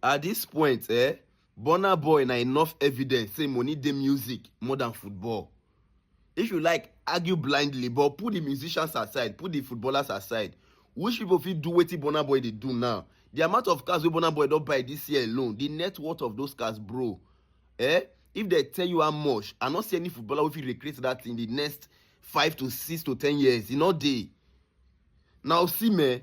At dis point eh, Burna Boy na enough evidence say money dey music more than football. If you like, argue blindly but put the musicians aside, put the footballers aside, which people fit do wetin Burna Boy dey do now? The amount of cars wey Burna Boy don buy this year alone, the net worth of those cars bro eh, if dem tell you how much, I no see any footballer wey fit recreate that in the next five to six to ten years, e no dey. Na Osimhen.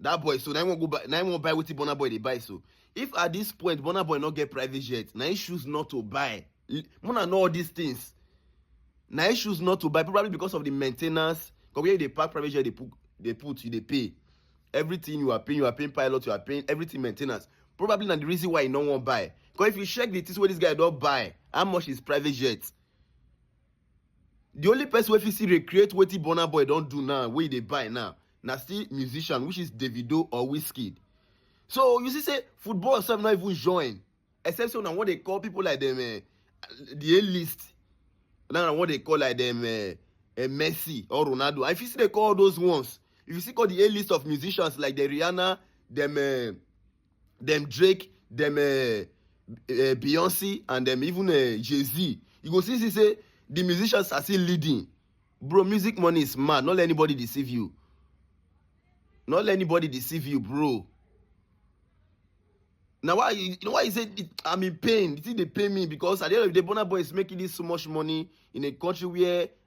that boy so na him wan go buy na him wan buy wetin burna boy dey buy so if at this point burna boy no get private jet na him choose not to buy L- muna know all these things na him choose not to buy probably because of the main ten ance because where you dey park private jet dey put dey put you dey pay everything you are paying you are paying pilot you are paying everything main ten ance probably na the reason why he no wan buy because if you check the things wey this guy don buy how much is private jet the only person wey fit still recreate wetin burna boy don do now wey e dey buy now na still musician which is davido or wizkid so you see say football sef no even join except say una wan dey call people like dem eh, the a list now na wan dey call like dem eh, eh, messi or ronaldo and if you still dey call all those ones if you still call the a list of musicians like the rihanna dem eh, dem drake dem uh, uh, beyonce and dem even uh, jay-z you go see see say the musicians are still leading bro music money is mad no let anybody deceive you no let anybody deceive you bro na why you know why you say i'm in pain the thing dey pain me because at the end of the day burna boy is making this so much money in a country where